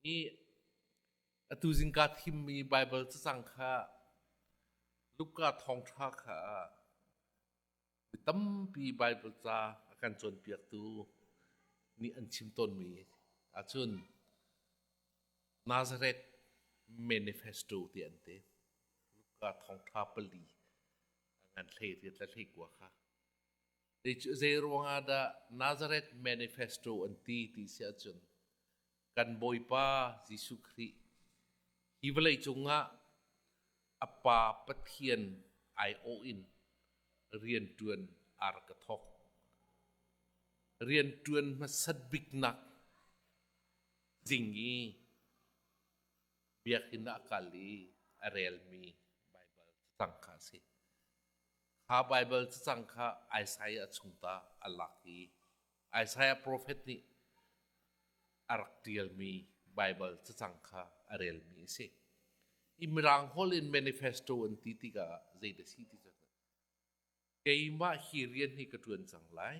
nih atu zingka thimmi Baibal cacang kha Luka thawngṭha kha mi tampi Baibal ca a kan cawnpiaktu nih an chim tawnmi ahcun Nazareth Manifesto ti an ti. Luka thawngṭha pali a ngan hlei ti tla hlei kua kha Kei cu zeiruangah dah Nazareth Manifesto an ti ti si ahcun, kan Bawipa Jesuh Khrih hi vawleicung ah a Pa Pathian aiawh in rianṭuan aa rak ka thawk. Rianṭuan hmasat biknak tling i Biakinn ah kal i a relmi Baibal cacang kha a si. Kha Baibal cacang kha Isaiah a chung ta a lak i Isaiah profet nih a rak ṭialmi Baibal cacang kha a relmi a si. I Mirang holh in manifesto an ti tikah zeidah a si ti cu keimah hi rian hi ka ṭuan cang lai.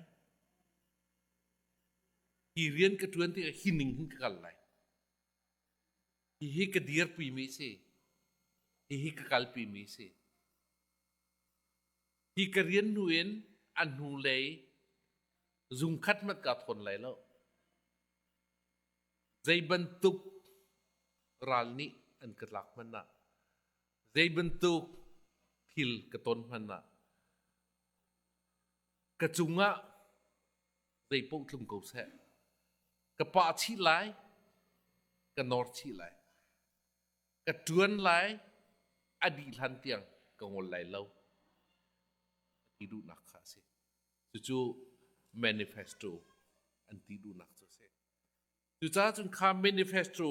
Hi rian ka ṭuan tikah hi ning hin ka kal lai. Hihi ka dirpimi a si. Hihi ka kalpimi a si. Hi ka rian hnu in a hnu lei zung khat hmanh kaa thawn lai lo. Zeibantuk ral nih an ka tlak hmanh ah, zeibantuk thil ka ton hmanh ah, ka cung ah zeipaoh tlung ko seh. Ka pah chih lai, ka nawr chih lai. ka ṭuan lai, a dih hlan tiang ka ngol lai lo, a ti duhnak kha a si. Cucu manifesto an ti duhnak cu a si. Cucaah cun kha manifesto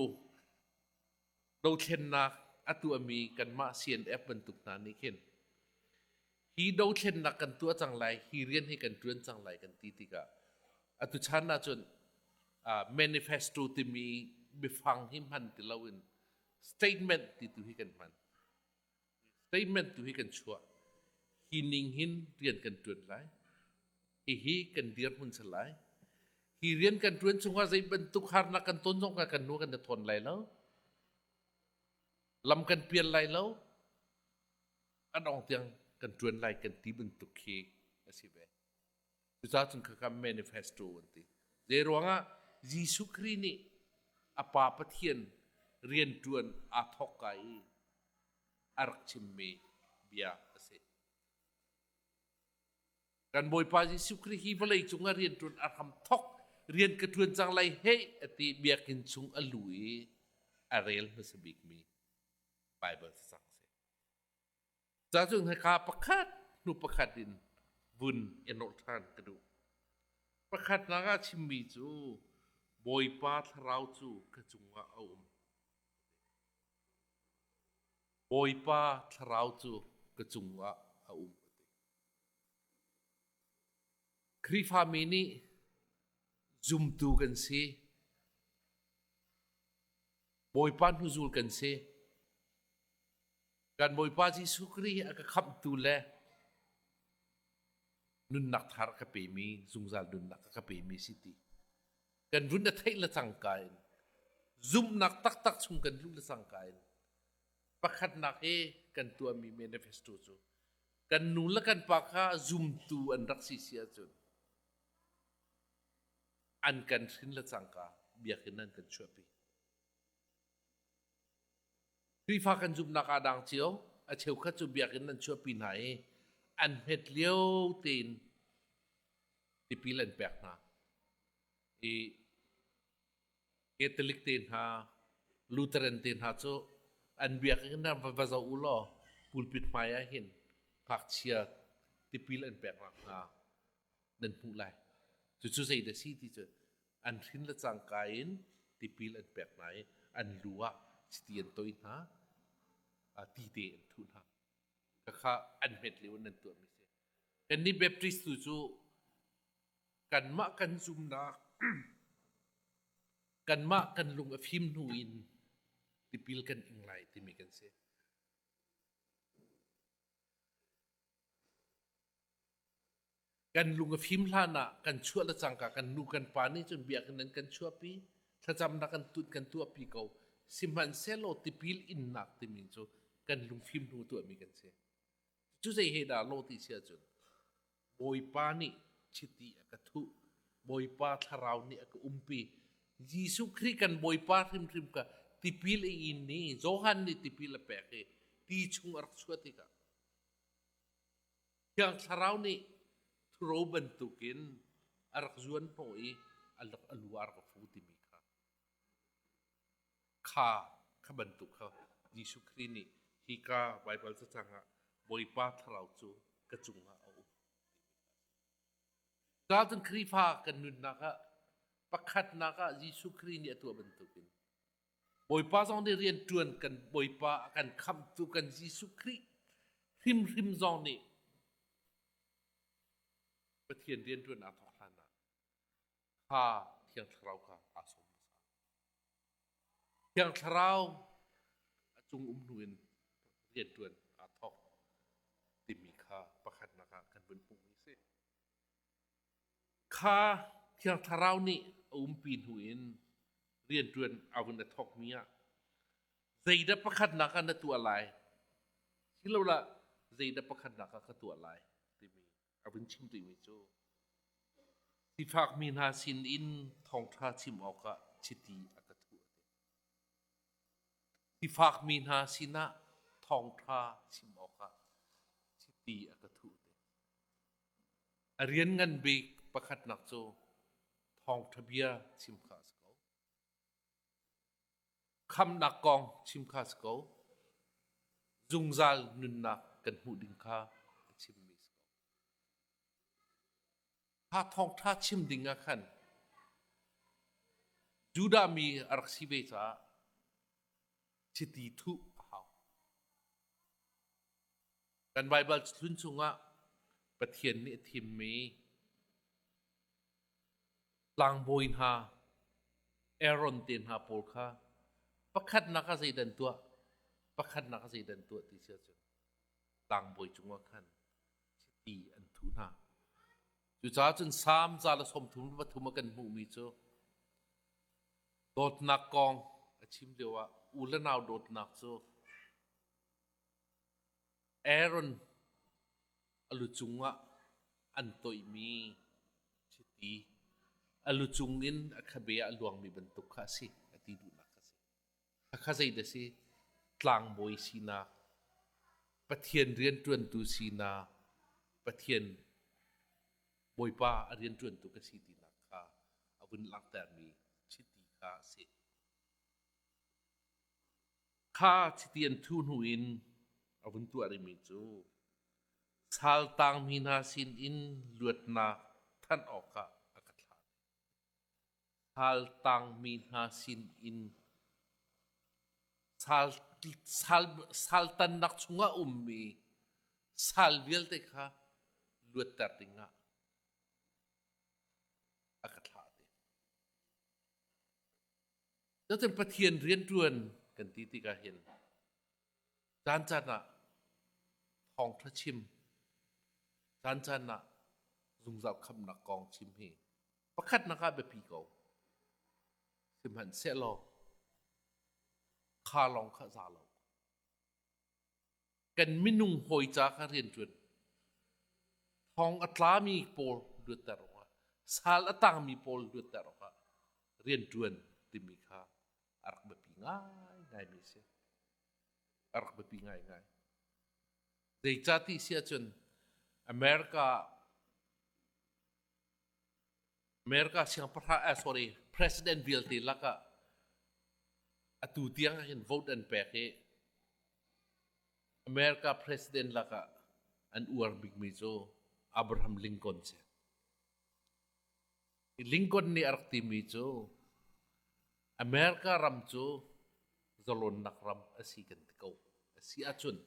dothlennak a tuahmi kanmah CNF bantuk hna nih khin hi dothlennak kan tuah cang lai hi rian hi kan ṭuan cang lai kan ti tikah atu chan ahcun uh, manifesto timi biafang hi hman ti loin statement ti tu hi kan hman statement tu hi kan chuah hi ning hin rian kan ṭuan lai hihi kan dirhmun se lai hi rian kan ṭuan chungah zei bantuk harnak kan ton zong kan nu kan thawn lai lo lam kan pian lai lo a dong tiang kan ṭuan lai kan ti bantuk khi a si ve. Cucaah cun khaka manifesto an ti. Zeiruangah Jesuh Khrih nih a Pa Pathian rian ṭuan aa thawk kaa i a rak chimmi bia a si. Kan Bawipa Jesuh Khrih hi vawleicung ah rianṭuan a hram thawk, rian ka ṭuan cang lai hei a ti biakinn chung a lu i a rel hmasa bikmi Baibal cacang a si. Cacung hika pakhat hnu pakhat in vun in rawh ṭhan ka duh. Pakhatnak ah chimmi cu Bawipa thlarau cu ka cungah a um. Bawipa thlarau cu ka cungah a um. Khrihfami nih zumtu kan si. Bawipa hnuzul kan si. Kan Bawipa Jesuh Khrih a ka khamhtu le nunnak thar ka pemi, zungzal nunnak ka pemi si ti. Kan run a theih le cangka in, zumnak taktak chung kan luh le cangka in, pakhatnak hi kan tuahmi manifesto cu, kan nu le kan pa kha zumtu an rak si si ahcun, an kan hrin le cangka biakinn an kan chuahpi. Khrihfa kan zumhnak ah dang cio a cheukhat cu biakinn an chuahpi hna i an hmet lio tein tipil an pek hna. I Catholic te hna, Lutheran te hna cu an biakinn ah va zoh u law pulpit hmai ah hin ngakchia tipil an pek nak hna nan hmuh lai. Cucu zeidah a si ti cu an hrin le cangka in tipil an pek hna i an lu ah chiti an toih hna, tite an thuh hna. Khakha an hmet lio in nan tuahmi a si. Kannih Baptist tu cu kanmah kan zumnak, kanmah kan lung a fim hnu in tipil kan ing lai timi kan si. kan lung a fim hlan ah kan chuah le cangka kan nu kan pa nih cun bia kan kan chuahpi thlacamnak kan tut kan tuahpi ko sihmanhsehlaw tipil innak timi cu kan lungfim hnu tuahmi kan si cu zei he dah lo ti si ahcun bawipa nih chiti a ka thuh bawipa thlarau nih a ka umpi Jesuh Khrih kan bawipa hrimhrim ka tipil i in ni Johan nih tipil a pek i ti chung a rak chuah tikah Thiang Thlarau nih thuro bantukin a rak zuan hnawh i a rak a lu ah a rak fu timi kha kha kha bantuk kha Jesuh Khrih nih hika Baibal cacang ah Bawipa Thlarau cu ka cungah a um. Gaultan Khrihfa kan nunnak ah pakhatnak ah Jesuh Khrih nih a tuah bantukin Bawipa zong nih rianṭuan kan Bawipa a kan khamhtu kan Jesuh Khrih hrimhrim zong nih Pathian rianṭuannak kha hlan ah kha Thiang Thlarau kha aa sawm hmasa. Thiang Thlarau a cung um hnu in rianṭuan aa thawk timi kha pakhatnak ah kan vun hmuh hi a si. Kha Thiang Thlarau nih a umpi hnu in rianṭuan a hun a thawkmi ah zeidah pakhatnak ah na tuah lai silolah zeidah pakhatnak ah ka tuah lai timi a vun chim rihmi cu sifakmi hna sin in thawngṭha chim awkah chiti a ka thuh. Sifakmi hna sinah thawngṭha chim awkah chiti a ka thuh. A rian ngan bik pakhatnak cu thawngṭha bia chim kha a si ko. Khamhnak kong chim kha a si ko. Zungzal nunnak kan hmuh ding kha a chimmi a si ko. Kha thawngṭha chim ding ah khan Judah mi a rak si ve caah chiti thuh a hau. Kan Baibal hlun chungah Pathian nih a thimmi tlangbawi hna, Aaron te hna pawl kha pakhatnak ah zeidan tuah, pakhatnak ah zeidan tuah ti si ahcun tlangbawi cungah khan chiti an thuh hna. Cucaah cun Salm ca le sawm thum le pathum a kan hmuhmi cu dawtnak kong a chim lioah u le nau dawtnak cu Aaron a lu cungah an toihmi chiti, a lu cungin a khabe ah a luangmi bantuk kha a si, a ti duhnak ka si. Khakha zeidah a si? Tlangbawi sinak, Pathian rianṭuantu sinak, Pathian Bawipa a rianṭuantu ka si tinak kha a vun langhtermi chiti kha a si. Kha chiti an thuh hnu in a vun tuah rihmi cu sal tangmi hna sin in luatnak thanh awkah a ka thlah. Sal tangmi hna sin in sal, sal, saltannak chungah ummi sal vialte kha luatter dingah a ka thlah. Cacang Pathian rianṭuan kan ti tikah hin caancaan ah thawngṭha chim, caancaan ah zungzal khamnak kong chim hi pakhatnak ah biapi ko. Sihmanhsehlaw, kha lawng kha za lo. kan minung hawi ca kha rianṭuan thawng a tlami pawl luatter awkah sal a tangmi pawl luatter awkah rianṭuan timi kha a rak biapi ngaingaimi a si a rak biapi ngaingai zeicah ti si ahcun america America siangpahrang eh, sorry president vialte lakah atu tiang hin vote an pek hi America president lakah an uar bikmi cu Abraham Lincoln si. Lincoln nih a rak timi cu America ram cu zalonnak ram a si kan ti ko. A si ahcun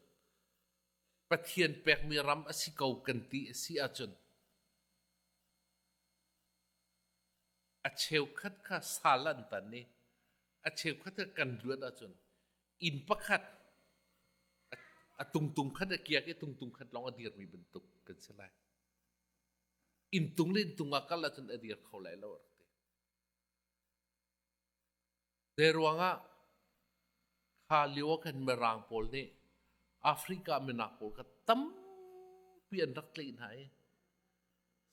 Pathian pekmi ram a si ko kan ti a si ahcun a cheukhat kha sal an tan i a cheukhat kha kan luat ahcun inn pakhat a tungtung khat a kiak i tungtung khat lawng a dirmi bantuk kan si lai. Inn tung le inn tung ah kal ahcun a dir kho lai lo. Zeiruangah kha lio ah khan Mirang pawl nih Africa minak pawl kha tampi an rak tlaih hna i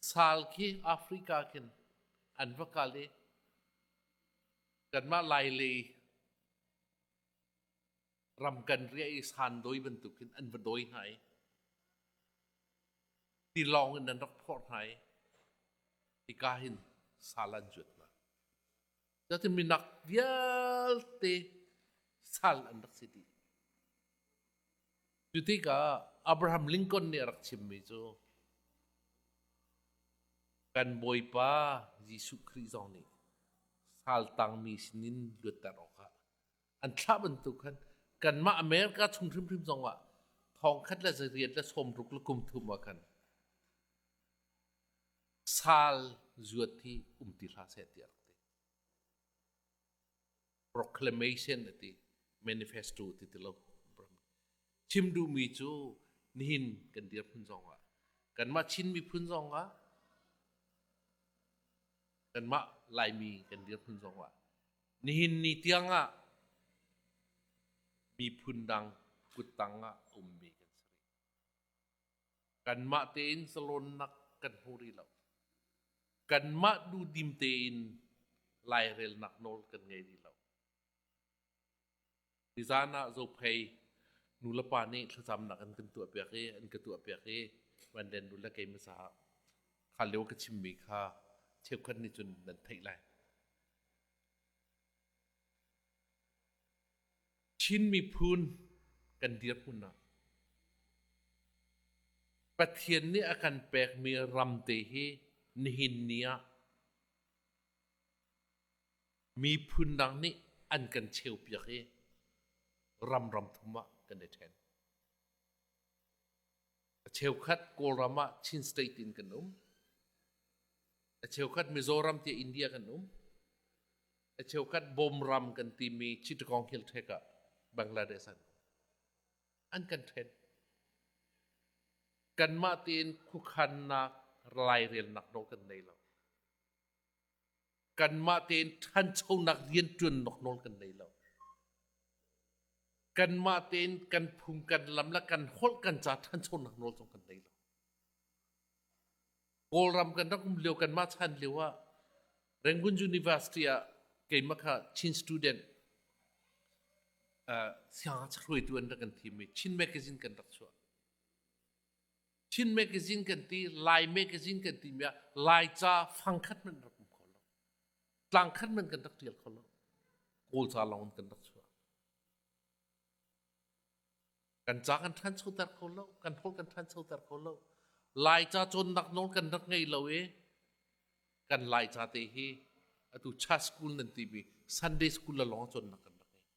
sal khi Africa khin an va kal i kanmah Lailei ram kan riah i sandawi bantuk in an va dawi hna i tilawng in an rak phawrh hna i hika hin sal an juat hna. Cutin minak vialte sal an rak si dih. Cu tikah Abraham Lincoln nih a rak chimmi cu kan Bawipa Jesuh Khrih zong nih sal tangmi sinin luatter awkah an thlah bantuk khan kanmah America chung hrimhrim zongah thong khat le zei riat le sawm ruk le kum thum ah khan Sal zuat hi um ti hlah seh tiah rak ti. Proclamation ati manifesto ti ti lo. Chim duhmi cu nihin kan dirhmun zongah kanmah Chin miphun zongah kanmah Laimi kan dirhmun zongah nihin ni tiangah miphun dang kuttang ah ummi kan si rih. Kanmah tein zalawnnak kan hmu rih lo. Kanmah duhdim tein lairelnak nawl kan ngei rih lo. Nizan ah Zophei nulepa nih thlacamnak an kan tuahpiak i an ka tuahpiak i van den nule keimah caah kha lio ka chimmi kha cheukhat nih cun nan theih lai. Chin miphun kan dirhmun ah Pathian nih a kan pekmi ram te hi nihin ni ah miphun dang nih an kan cheupiak i ramram thum ah kan i ṭhen. Cheukhat Kawlram ah Chin State in kan um. A cheukhat Mizoram tiah India kan um. A cheukhat Bawmram kan timi Chittagong Hill Tract ah Bangladesh an um. An kan ṭhen. Kanmah tein khuakhannak, lairelnak nawl kan nei lo. kanmah tein ṭhanchonak rianṭuan nok nawl kan nei lo. Kanmah tein kan phung, kan lam le kan holh, kan ca ṭhanchonak nawl zong kan nei lo. Kawlram kan rak um lio kanmah chan lio ah Rangoon University ah keimah kha Chin student uh, siangngakchia hruaitu an rak kan thim i Chin magazine kan rak chuah. Chin Magazine kan ti, Lai Magazine kan timi ah Laica fangkhat hmanh rak um kho lo. Tlangkhat hmanh kan rak ṭial kho lo. Kawlca lawng in kan rak chuah. Kan ca kan ṭhanchoter kho lo, kan holh kan ṭhanchoter kho lo. Laica cawnnak nawl kan rak ngei lo i kan Laica te hi atu cha school nan timi Sunday school la lawng cawnnak kan rak ngei.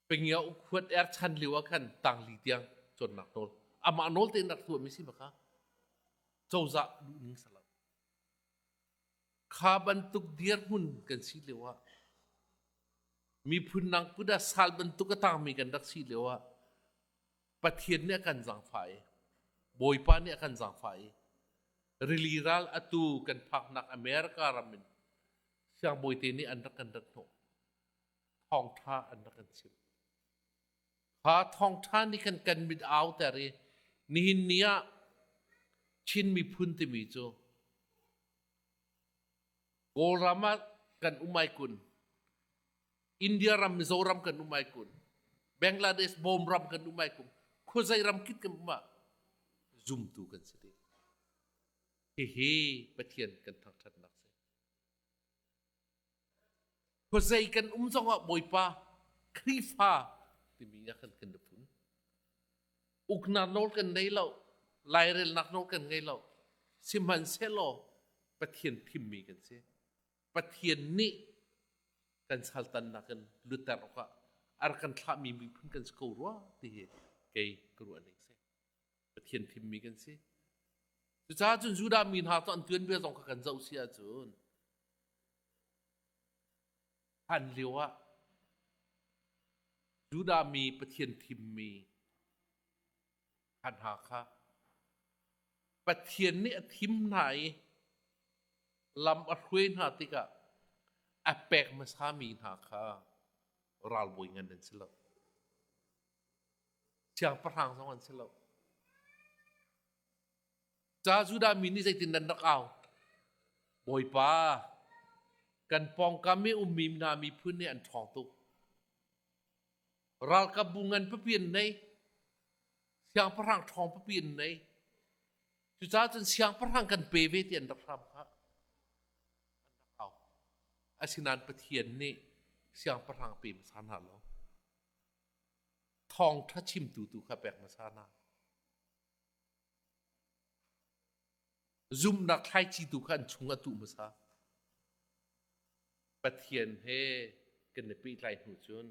Pengyo khuat er chan lio ah khan tangli tiang cuannak nawl amah nawl tein rak hluahmi si baka cozah duh ning ser lo kha bantuk dirhmun kan si lio ah miphun nang put ah sal bantuk a tangmi kan rak si lio ah pathian nih a kan zangfah i bawipa nih a kan zangfah i rili ral atu kan phaknak america ram in siangbawite nih an rak kan rat hnawh thawngṭha an rak in chimh. Kha thawngṭha nih khan kan mit a auter i nihin ni ah Chin miphun timi cu Kawlram ah kan um ai kun, India ram, Mizoram kan um ai kun, Bangladesh Bawm ram kan um ai kun, khuazei ram kip kan um ah zumtu kan si ding. Hihi Pathian kan thangṭhatnak si. Khuazei kan um zongah Bawipa Khrihfa timi ah khan kan i fun. Uknak nawl kan nei lo, lairelnak nawl kan ngei lo. Sihmanhsehlaw Pathian thimmi kan si. Pathian nih kan saltannak in lutter awkah a rak kan thlahmi miphun kan si ko rua ti hi kei ka ruah ning a si. Pathian fimmi kan si. Cucaah cun Judah mi hna cu an tuan ve zong kha kan zoh si ahcun hlan lio ah Judah mi Pathian thimmi hna kha Pathian nih a thim hna i lam a hruai hna tikah a pek hmasa mi hna kha ralbawi ngan an si lo. Siangpahrang zong an si lo. Ca Judah mi nih zeitin nan rak au? Bawipa, kan pawngkam i ummi hna miphun nih an ṭhawng tuk. Ralkapbu ngan papi an nei. Siangpahrang ṭhawng papi an nei. Cucaah cun siangpahrang kan pe ve ti an rak hram kha. An rak au. Asinain Pathian nih siangpahrang pe hmasa hna lo. Thawngṭha chimtu tu kha pek hmasa hna. Zumnak thlaici tu kha an chung a tuh hmasa. Pathian he kan i pehtlai hnu cun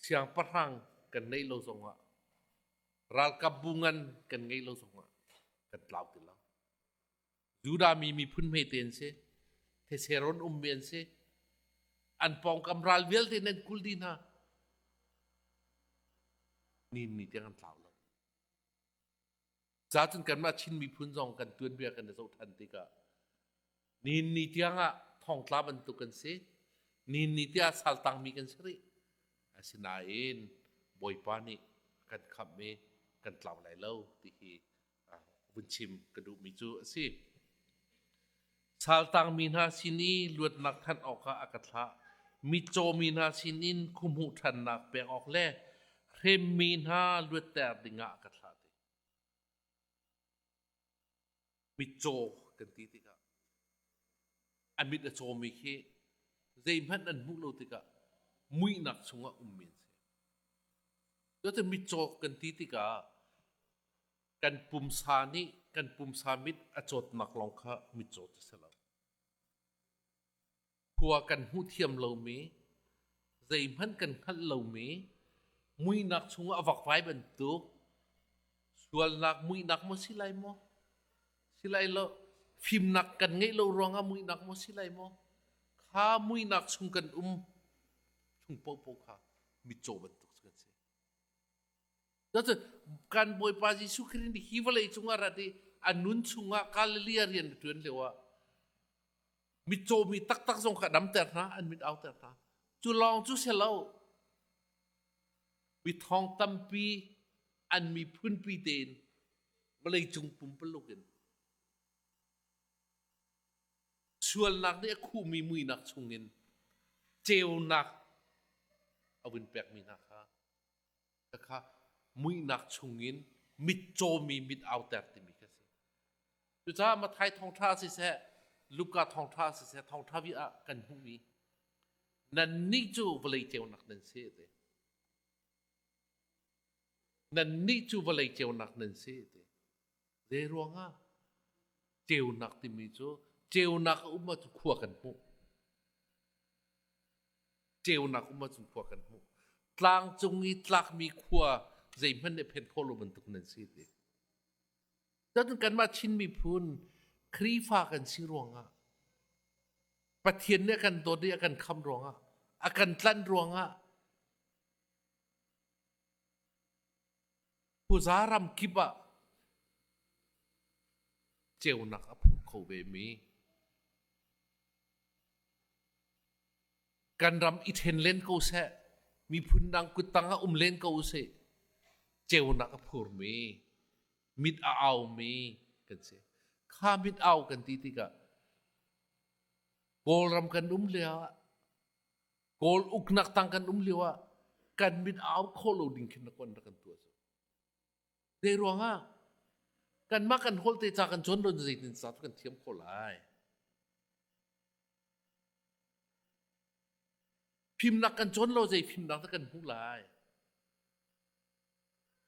siangpahrang kan neih lo zongah ralkapbu ngan kan ngeih lo zongah kan tlau ti lo. Judah mi miphun hmete an si. Theseron ummi an si. An pawngkam ral vialte nan kul dih hna. Nin ni tiang an tlau lo. Cacun kanmah Chin miphun zong kan tuanbia kan i zoh ṭhan tikah nin ni tiang ah thongtla bantuk kan si. Nin ni tiang ah saltangmi kan si rih. Asinain Bawipa nih kan khamh i kan tlau lai lo ti hi vun chim ka duhmi cu a si. Saltangmi hna sin i luatnak thanh awkah a ka thlah. Mitcawmi hna sinin khuhmuh ṭhannak pek awk le hremmi hna luatter dingah a ka thlah ti. Mitcaw kan ti tikah a mit a cawmi khi zeihmanh an hmuh lo tikah muihnak chungah ummi an si. Cutin mitcaw kan ti tikah kan pumsa nih kan pumsa mit a cawtnak lawng kha mit cawt a si lo. Khua kan hmuh thiam lomi, zeihmanh kan hngalh lomi, muinak chungah a vakvai bantuk, sualnak muinak maw si lai maw? Si lai lo. Fimnak kan ngeih lo ruangah muinak maw si lai maw? Kha muinak chung kan um, chung popo kha mitcaw bantuk kan si. Cucu kan Bawipa Jesuh Khrih nih hi vawlei cungah rat i a nun chungah Galilee ah rian na ṭuan lio ah mitcaw mi taktak zong kha damter hna an mit auter hna cu lawng cu si lo mi thawng tampi an miphunpi tein vawlei cung pumpaluk in sualnak nih a khuhmi muinak chungin ceunak a vun pekmi hna kha Te kha muihnak chungin mitcawmi mit auter timi ka si. Cucaah Matthai thawngṭha ah siseh, Luka thawngṭha ah siseh, thawngṭha vi ah kan hmuh i nannih cu vawlei ceunak nan si ti. Nannih cu vawlei ceunak nan si ti. Zeiruangah? Ceunak timi cu ceunak a um ahcun khua kan hmuh. Ceunak um ahcun khua kan hmuh. Tlang cung i tlakmi khua zeihmanh nih phen khawh lo bantuk nan si ti. Cun kanmah Chin miphun Khrihfa kan si ruangah, Pathian nih a kan dawt i a kan khamh ruangah, a kan tlanh ruangah, Khuza ramkip ah ceunak a phu kho vemi kan ram i ṭhen len ko seh, miphun dang kuttang ah um len ko seh, ceunak a phurmi, mit a aumi kan si. Kha mit au kan ti tikah Kawlram kan um lio ah Kawl uknak tang kan um lio ah kan mit a au khawh lo ding khin na kon rak kan tuah cu. Zei ruangah kanmah kan holte ca kan cuan don zeitin sa tu kan thiam khawh lai. Fimnak kan cuan lo zei fimnak dah kan hmuh lai.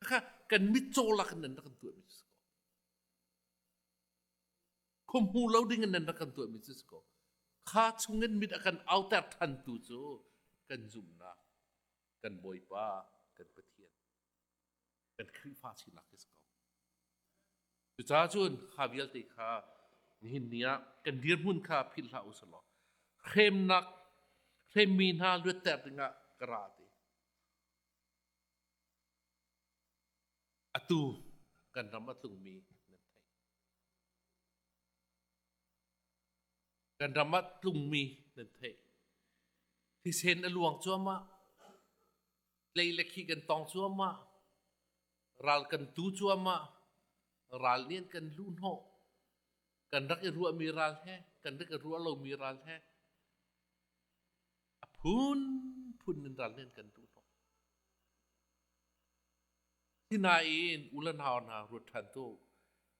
Kha kan mit cawlak in nan rak kan tuah mi cu si ko. Khuahmu lo ding in nan rak kan tuahmi cu si ko. Kha chungin mit a kan auter ṭhantu cu kan zumhnak, kan Bawipa, kan Pathian, kan Khrihfa sinak hi si ko. Cucaah cun kha vialte kha nihin ni ah kan dirhmun kha philh hlah usih law hremnak hremmi hna luatter dingah ka ra te. Atu kan ram a tlungmi nan theih. Kan ram a tlungmi nan theih. Thisen a luang cuahmah. Tlei le khi kan tong cuahmah. Ral kan tu cuahmah. Ral nih an kan lu hnawh. Kan rak i ruahmi ral he, kan rak i ruah lomi ral he, a phunphun in ral nih an kan duh hnawh. Sinain ulenau hna ruat ṭhan tu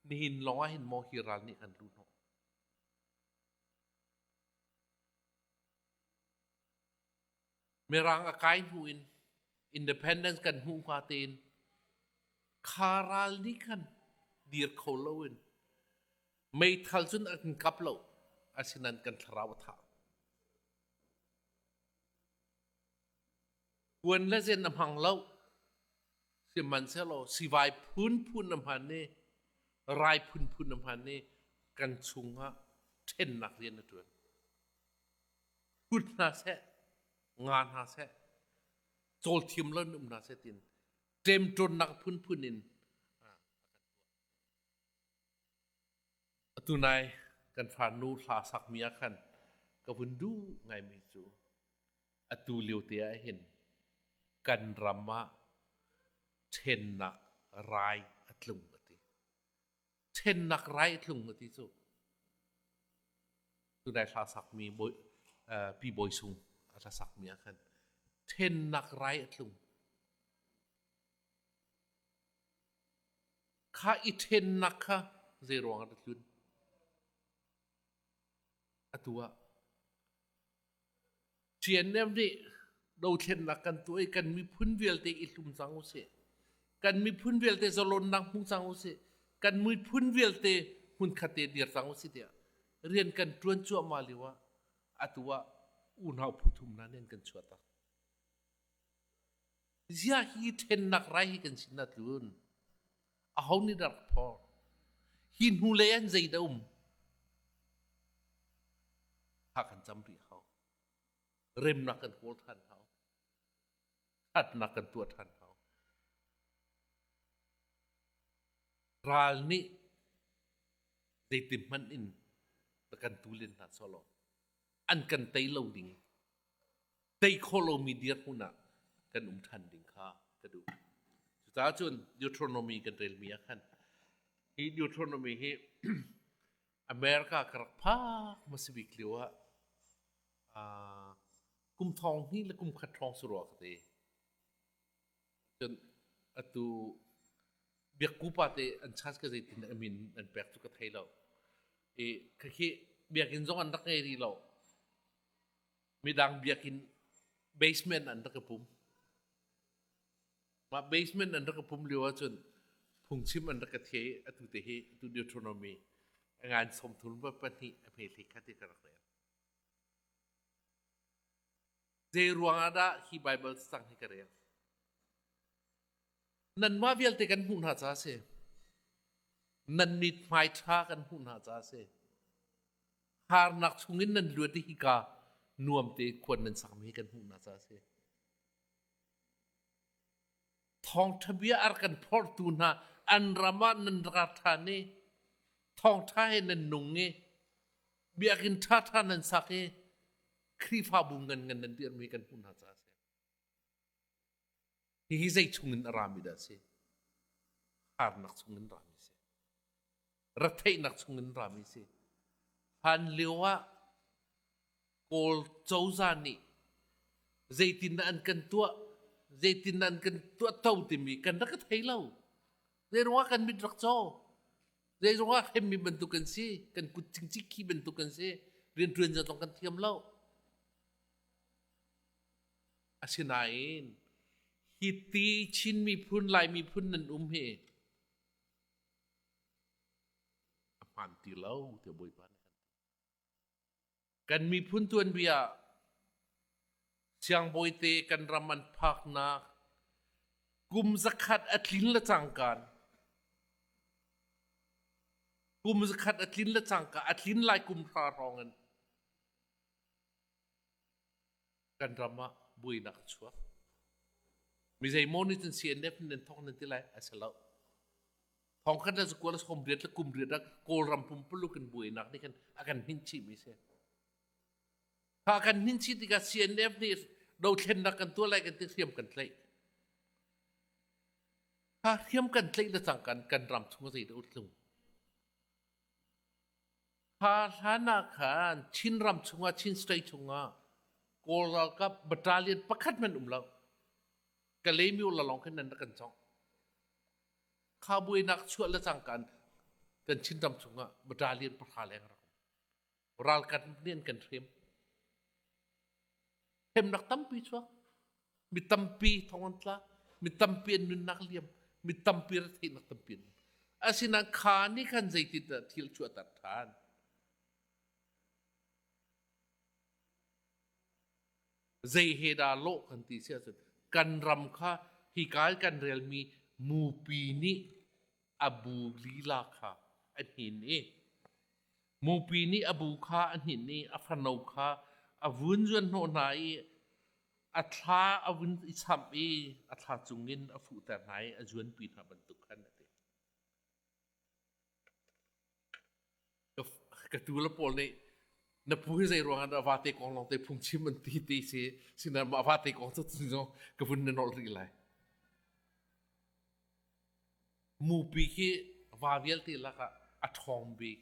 nihin lawngah hin maw hi ral nih an lu hnawh. Mirang a kai hnu in independence kan hmuh hnga tein kha ral nih khan dir kho lo in meithal cun an kan kap lo asinain kan thlarau a tha. Kuan le zen na hmang lo sihmanhsehlaw sivai phunphun na hman i rai phunphun na hman i kan chungah ṭhennak rian na ṭuan. Hrut hna seh, nga hna seh, cawlthiam lo um hna seh tiin ṭemṭawnnak phunphun in Atu nai kan farnu hla sakmi ah khan ka vun duh ngaimi cu atu liote ahhin kan ram ah ṭhennak rai a tlung a ti. Ṭhennak rai a tlung a ti cu tunai hla sakmi bawi, uh, Pi Bawi Sung a hla sakmi ah khan ṭhennak rai a tlung. Khah i ṭhennak kha zeiruangah na tlun? Atu ah ṭiannem nih dothlennak kan tuah i kan miphun vialte i hlum cang u sih. Kan miphun vialte zalonnak hmu cang u sih. Kan miphun vialte hmunkhat te dir cang u sih tiah rian kan ṭuan cuahmah lio ah atu ah unau phu thum hna nih an kan chuahtak. Ziah hi ṭhennak rai hi kan sin ah tlun aho nih dah rak phor? Hi hnu lei an zei dah um? Thla kan cam rih hau. Remnak kan kawl ṭhan hau. Ṭhatnak kan tuah ṭhan hau. Ral nih zeitin hmanh in kan tu len hna sawlaw an kan tei lo ding tei khawh lomi dirhmun ah kan um ṭhan ding kha ka duh. Cucaah cun Deuteronomy kan relmi ah khan hi Deuteronomy hi America ka rak phak masabik lio ah uh, kum thong hni le kum khat thong su rua ka te cun atu biakkupa te an chas ka zeitin amin an pek cu ka thei lo i khakhi biakinn zong an rak ngei rih lo midang biakinn basement an rak ka pum. Mah basement an rak ka pum lio ahcun phungchim an rak ka thie atu te hi atu Deuteronomy ngan somthun pa pahnih a hmethei khati ka rak rel. Zei ruang ah dah hi Bible sang hi ka rel? Nanmah vialte kan hmuh hna ca a si. Nan mithmai ṭha kan hmuh hna ca a si. Harnak chungin nan luat i hika nuamte khuan nan sakmi hi kan hmuh hna ca a si. Thawngṭha bia ar kan phorhtu hna an ram ah nan ra ṭhan i thawngṭha he nan nung i biakinn ṭha ṭha nan sak i Khrihfabu nganngan nan dirhmi kan hmuh hna ca a si. Hihi zeichung in a rami dah a si? Harnak chungin rami a si. Retheihnak chungin rami a si. Hlan lio ah Kawl cozah nih zeitindah an kan tuah, zeitindah an kan tuahto timi kan rak i thei lo. Zei ruangah kan mit rak caw. Zei ruangah hremmi bantuk kan si, kan kut cingcingkhi bantuk kan si, rianṭuan zong kan thiam lo. Asinain, hi ti Chin miphun, Lai miphun nan um hi a hmaan ti lo, tiah Bawipa nih an ti. Kan miphun tuanbia siangbawite kan ram an phaknak kum zakhat a tlin le cangkan kum zakhat a tlin le cangka a tlin lai kum hra hrawng in kan ram ah buainak a chuak. Mizeimaw nih cun CNF nih nan thawk nan ti lai a si lo. Thawng khan le kual sawm riat le kum riat ah Kawlram pumpuluk in buainak nih khan a kan hnin chihmi si. Kha kan hnin chih tikah CNF nih dothlennak kan tuah lai kan ti hriam kan tlaih. Kha hriam kan tlaih le cang kan kan ram chung a zei da utlung. Kha hlan ah khan Chin ram chungah Chin state chungah Kawl ralkap battalion pakhat hmanh um lo Kalaymyo la lawng khin nan rak kan chawng kha buainak chuah le cangkan kan Chinram chungah battalion pahra leng rak um ralkap nih an kan hrem hremnak tampi chuak Mi tampi thong an tla. Mi tampi an nunnak liam. Mi tampi retheihnak tampi an Asinain kha nih khan zeitindah thil cu a tar ṭhan? Zei he dah lawh kan ti si ahcun kan ram kha hika i kan relmi mupi nih a bu lila kha a hnin i Mupi nih a bu kha a hninh i a fano kha a vun zuanhnawh hna i a thla a vun i chamh i a thla cungin a fuhter hna i a zuanpi hna bantuk khan a ti. Ka tuu le pawl nih na pu hi zei ruangah na vate kong lawngte phungchim an ti ti si sinah mah vate kong cu zong ka vun na nolh rih lai. Mupi hi va vialte lakah a ṭhawng bik.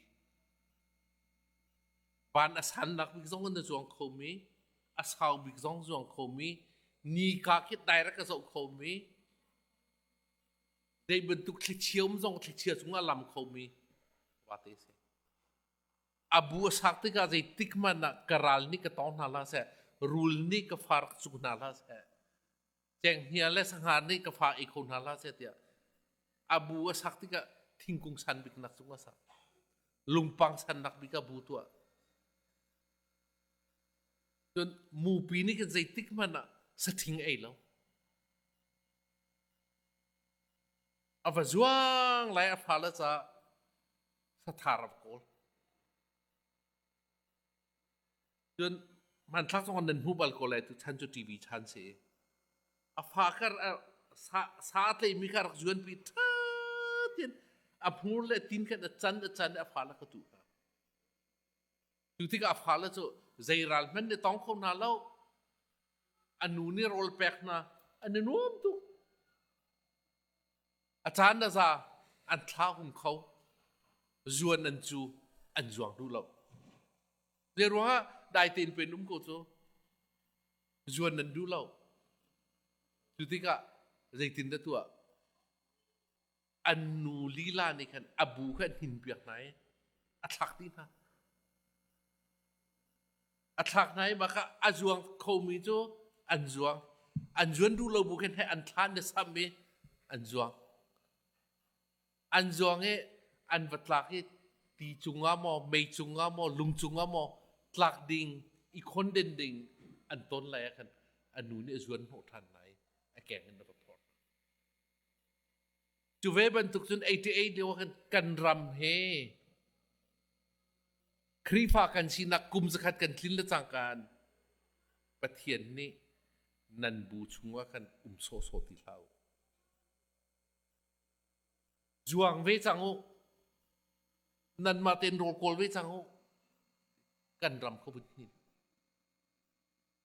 Van a sannak bik zong na zuang khomi, a sau bik zong zuang khomi, nika khi direct ka zoh khomi, zei bantuk thlichium zong thlichia cungah lam khomi vate a si. A bu a sak tikah zeitik hmanh ah ka ral nih ka tawng hna hlah seh, rul nih ka far cu hna hlah seh, Cenghngia le sangar nih ka fa ei kho hna hlah seh tiah a bu a sak tikah thingkung san bik nak cung a sak lungpang san nak bik a bu tuah cun mupi nih kan zeitik hmanh ah sathing ei lo a va zuang lai a fa le ca sathar a kawl Cun hmanthlak zong an nan hmu bal ko lai tuchan cu TV chan si i a fa kar a sa, sa a tleimi kha rak zuanpi ṭha tin a hmur le tin khan a can a can i a fale kha tuh hna. Cu tikah a fale cu zei ral hmanh nih tong kho hna lo. A nu nih rawl pek hna, an i nuam tuk. A caan le za an thlahum kho. Zuan nan cu an zuang duh lo. Zei ruangah dai tein pen um ko cu zuan nan duh lo. Cu tikah zeitin dah tuah an nu lila nih khan a bu kha hnin piak hna i a thlak ti hna. a thlak hna i bak ah a zuang khomi cu an zuang an zuan duh lo bu khin he an thlan le sam i an zuang an zuang i an va tlak i ti cungah maw mei cungah maw lung cungah maw tlak ding i khonden ding an ton lai ah khan a nu nih a zuan hnawh ṭhan lai i a keng in a ra phorh. Cu ve bantuk cun 88 lio kan, kan ram he Khrihfa kan sinak kum zakhat kan tlin le cangkan Pathian nih nan bu chungah kan um sawhsawh ti hlah u. Zuang ve cang u. Nanmah ten rawl kawl ve cang u. Kan ram kho hin.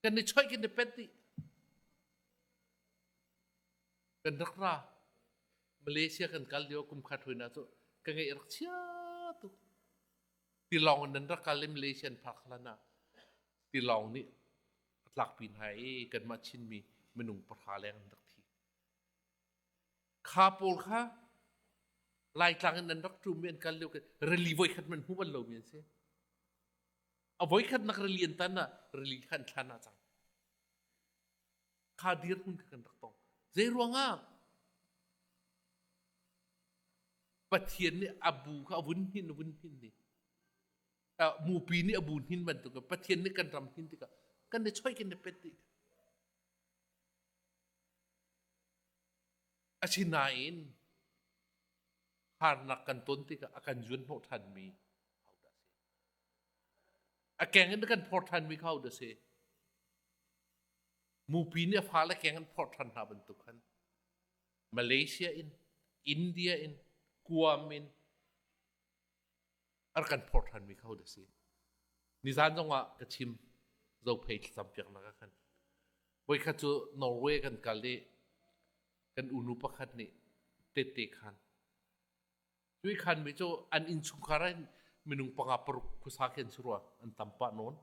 kan i choih kan i pet dih kan rak ra malaysia kan kal lio kum khat hruina cu ka ngei rak chia tuk tilawng in nan rak kal i malaysian park hlan ah tilawng nih a tlakpi hna i kanmah chinmi minung pahra leng an rak thi kha pawl kha laitlang in an rak ṭum i an kal lio rally voi khat man hmuh bal lomi an si a voikhatnak rili an tan ah rili kha an thlan ah cang kha dirhmun kha kan rak tong zei ruangah pathian nih a bu kha a vun hin vun hin ni mupi nih a bu hin bantuk pathian nih kan ram hin tikah kan ne choi kan ne pet ti asinain harnak kan ton tikah a kan zuan hnawh ṭhanmi A keng in na kan phawr ṭhanmi kha ahodah a si? Mupi nih a fale keng an phawr ṭhan hna bantuk khan Malaysia in, India in, Guam in a rak kan phawr ṭhanmi kha ahodah a si? Nizan zongah ka chim zophei thlacampiaknak ah khan. Voikhat cu Norway kan kal i kan unu pakhat nih tette khan Tuikhan mi cu an innchungkhar in minung panga paruk khuasa khi an si rua an tam pah nawn.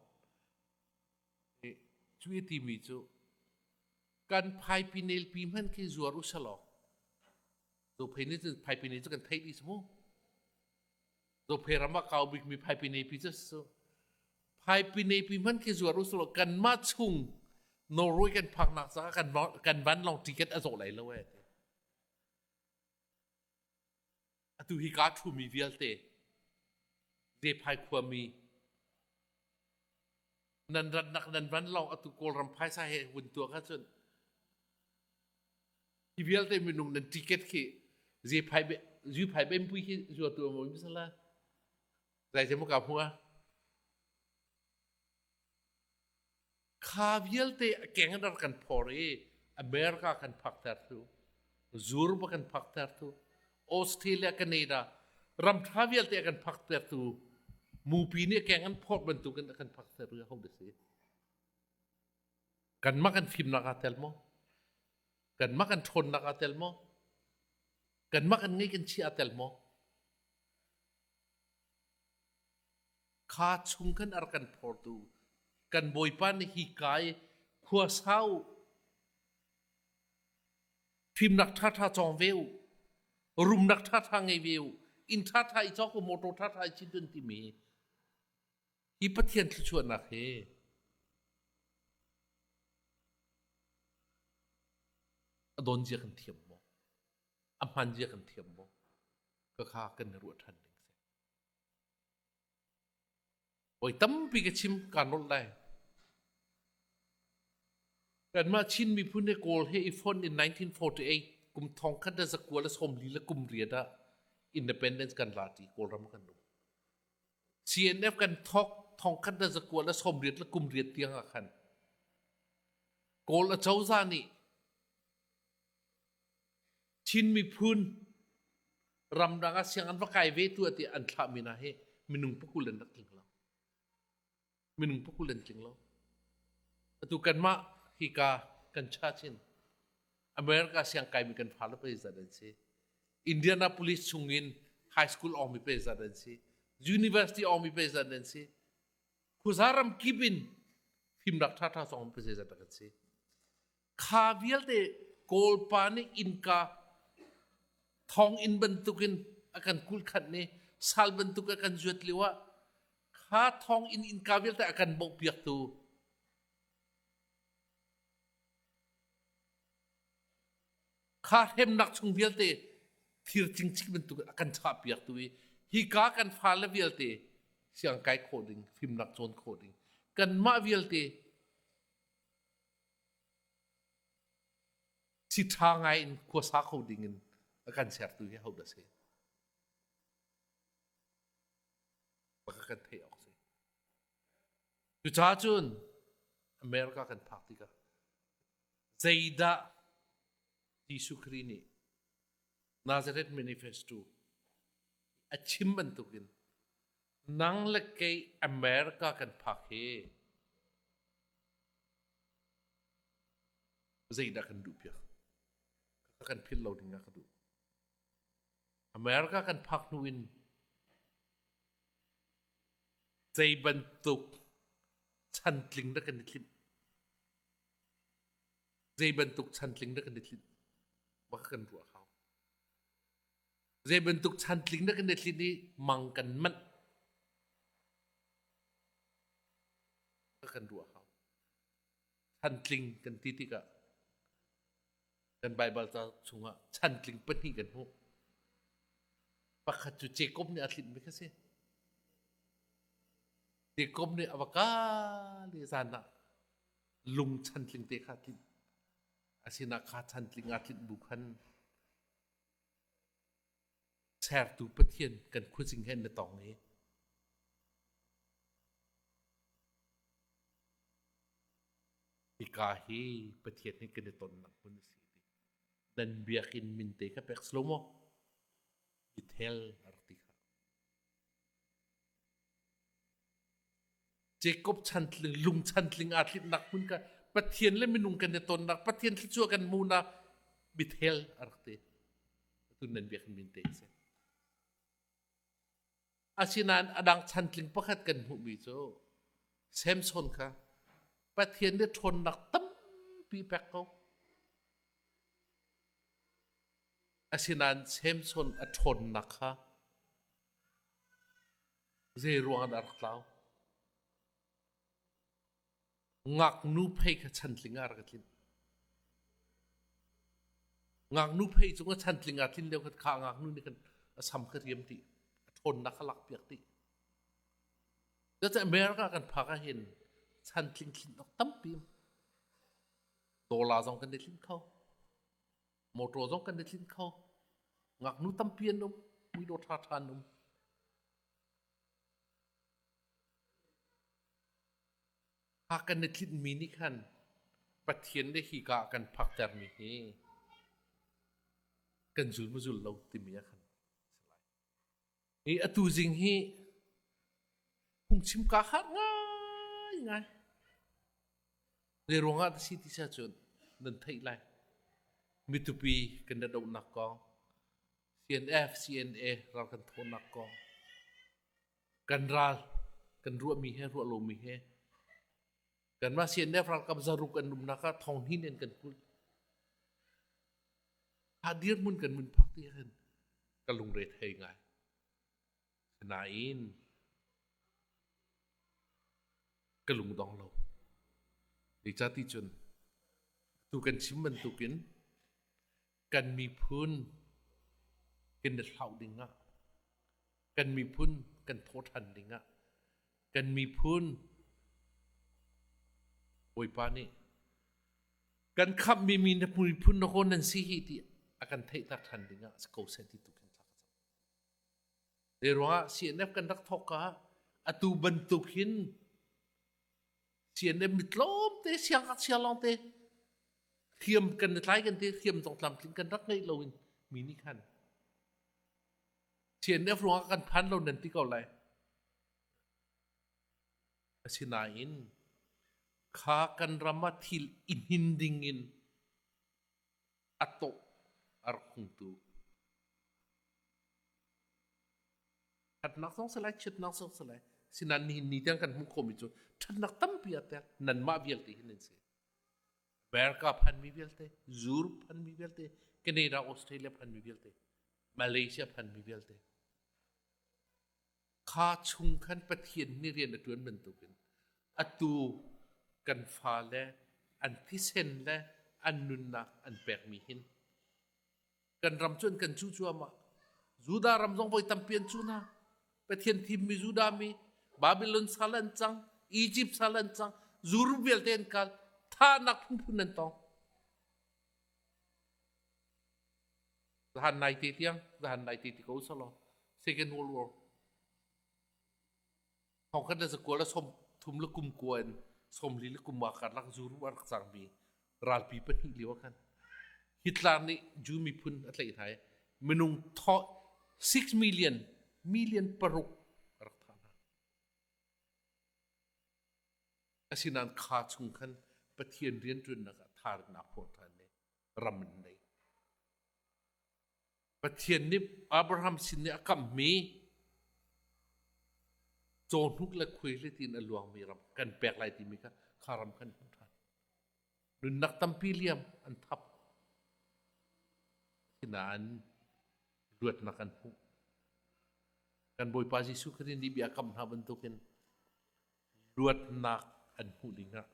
Cu i timi cu kan phaipi nelpi hman khi zuar u se law zo phei nih cun phaipi ne cu kan thei dih su mu zo phei ram ah kau bikmi phaipi nepi cu su phaipi nepi hman khi zuar u se law kan mah chung Norway kan phak nak caah kan kan van long ticket a zaw lai lo e Atu hi kaa ṭhumi vialte Zephai khuami nan rannak nan van lawng atu Kawlram phaisa he vun tuak ahcun hi vialte minung nan ticket khi Zephai Zuphai Benpui khi zuatu a ngoi misal zai te mu ka hmu a Kha vialte a keng in rar kan phor i America kan phakter thu, Zurba kan phakter thu, Australia, Canada ram ṭha vialte a kan phakter tu mupi nih a keng an phorh bantukin a kan phakter ri ho dasi. Kanmah kan fimnak aa tel maw? Kanmah kan ṭhawnnak aa tel maw? Kanmah kan ngeih kan chi aa tel maw? Kha chung khan a rak kan phortu kan Bawipa nih hi kai khua sau u, fimnak ṭhaṭha cawng ve u, rumnak ṭhaṭha ngei ve u, inn ṭhaṭha i cawk u, motor ṭhaṭha i cin tun timi hi Pathian thluachuahnak hi a donzia kan thiam maw? A hmanzia kan thiam maw? Khakha kan i ruah ṭhan ding. Voi tampi ka chim kaan rawlh lai. Kanmah Chin miphun he Kawl he i fon in 1948 kum thong khat le zakual le sawmli le kum riat ah independence kan la ti Kawlram kan um. CNF kan thok thong khat le zakual le sawmriat le kum riat tiang ah khan Kawl acozah nih Chin miphun ramdang ah sianginn va kai ve tu ah ti an thlah mi hna hi minung pakul an rak tling lo. Minung pakul an tling lo. Atu kanmah hika kan cha chin America siang kai mi kan fale pei zat an si. Indianapolis chung in high school awng mi pei zat an si. University awng mi pei zat an si. Khuza ram kip in fim rak tha tha song mi pei zat rak an si. Kha vialte Kawlpa nih innka thonginn bantukin a kan kulhkhanh i sal bantuk a kan zuat lio ah kha thonginn innka vialte a kan bohpiaktu kha hremnak chung vialte thir cingcing bantuk a kan chahpiaktu i hika kan fale vialte siang kai khawh ding fimnak cawn khawh ding kanmah vialte si ṭha ngai in khuasa kho ding in a kan sertu hi ahodah a si? Baka kan theih awk a si. Cucaah cun America kan phak tikah zeidah Jesuh Khrih nih Nazareth manifesto a chim bantukin Nang le kei America kan phak hi zeidah kan duh piak? Ka kan philh lo ding ah ka duh. America kan phak hnu in zei bantuk chantling dah kan i tlinh? Zei bantuk chantling dah kan i tlinh? Maka kan ruah hau. Zei bantuk chantling na kan i tlin i mang kan manh kan ruah hau. Chantling kan ti tikah kan Baibal ca chungah chantling pahnih kan hmuh. Pakhat cu Jacob nih a tlinmi kha si. Jacob nih a va kal i zan ah lung chantling te kha a tlinh. A sinah kha chantling aa tlinh bu khan Sertu Pathian kan khuazing he na tong i hika hi Pathian he kan i tonnak hmun a si ti nan biakinn min te kha pek slow maw i tel a rak ti kha. Jacob chantling lung chantling aa tlinnak hmun kan Pathian le minung kan i tonnak Pathian thluachuah kan munak bithel a rak ti tun nan biak min te si asinain adang chantling pakhat kan hmuhmi cu Samson kha Pathian nih ṭhawnnak tampi pek ko Asinain Samson a ṭhawnnak kha zeiruangah dah a rak tlau? Ngaknu phei kha chantling ah a rak i tlinh. Ngaknu phei cung a chantling aa tlin lio khan kha ngaknu nih khan a sam ka riam dih. A ṭhawnnak kha lakpiak dih. Cucaah America kan phak ah hin chantling tlinh awk tampi dola zong kan i tlinh kho. Motor zong kan i tlinh kho. Ngaknu tampi an um. Muidawh ṭhaṭha an um. Ha kan i tlinhmi nih khan Pathian le hika ah kan phaktermi hi kan zul maw zul lo timi ah khan I a tuzing hi phungchim kaa harh ngaingai. Zei ruangah dah si ti si ahcun nan theih lai. Mitupi kan dadauhnak kong, CNF, CNA ral kan thawhnak kong, kan ral, kan ruahmi he ruah lomi he Kanmah CNF ralkap zaruk an umnak ah thong hnin in kan kulh. Ha dirhmun kan mun phak ti khin ka lungre thei ngai. Nain ka lungdong lo. Ni ca ti cun tu kan chim bantukin kan miphun kan i hlauh dingah kan miphun kan thaw ṭhan dingah kan miphun Bawipa nih kan khamhmi mi na miphun na hawn nan si hi ti a kan theihter ṭhan dingah si ko sen ti tu khin thlak a cang. Zei ruangah CNF kan rak thawk ka atu bantuk hin CNM mi tlawmte siang ngakchia lawngte thiam kan tlai kan te thiam dong tlamtling kan rak ngeih lo in mi nih khan CNF ruangah kan phan lo nan ti ko lai asinain kha kan ram ah thil i hnin ding in A tawh a rak hung tu. Ṭhatnak zong si lai, ṭhitnak zong si lai. Sinain nihin ni tiang kan hmuh khawhmi cu ṭhatnak tampi a pek. Nanmah vialte hi nan si. America phanmi vialte, Europe phanmi vialte, Canada, Australia phanmi vialte, Malaysia phanmi vialte. Kha chung khan Pathian nih rian a ṭuan bantukin atu kan fale an thisen le an nunnak an pekmi hin kan ram cu an kan cu cuahmah. Judah ram zong voi tampi an cu hna. Pathian thimmi Judah mi, Babilon sal an cang, Izipt sal an cang, zuruk vialte an kal, thahnak phunphun an tong. Zahan nai te tiang, zahan nai te ti ko selaw, Second World War. Thongkhat na zakua la som thum la kum kua in som li la kum ah kar lak zuru an rak cangmi ralpi pahnih lio ah khan Hitler nih Jew miphun a tlaih hna i minung tho six million million paruk a rak thah hna. Asinain kha chung khan Pathian rianṭuannak ah tharannak hlawhṭhan nih ram an neih. Pathian nih Abraham sin i a kamhmi caw hnuk le khuai hletin a luangmi ram kan pek lai timi kha kha ram kan hmuh ṭhan. Nunnak tampi liam an thap. Asinain luatnak an hmuh. Kan Bawipa Jesuh Khrih nih bia a kamh hna bantukin luatnak an hmuh dingah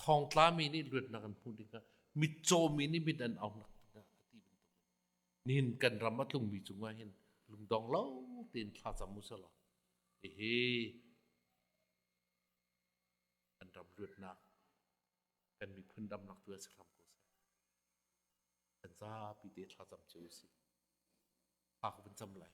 thawngtla mi nih luatnak an hmuh dingah mitcaw mi nih mit an aunak dingah a ti bantukin nihin kan ram a tlungmi cungah hin lungdong lo tein thla cam usih law hihi kan ram luatnak kan miphun damnak tu ah si hram ko seh kan zapi te thlacam cio usih hak vun cam lai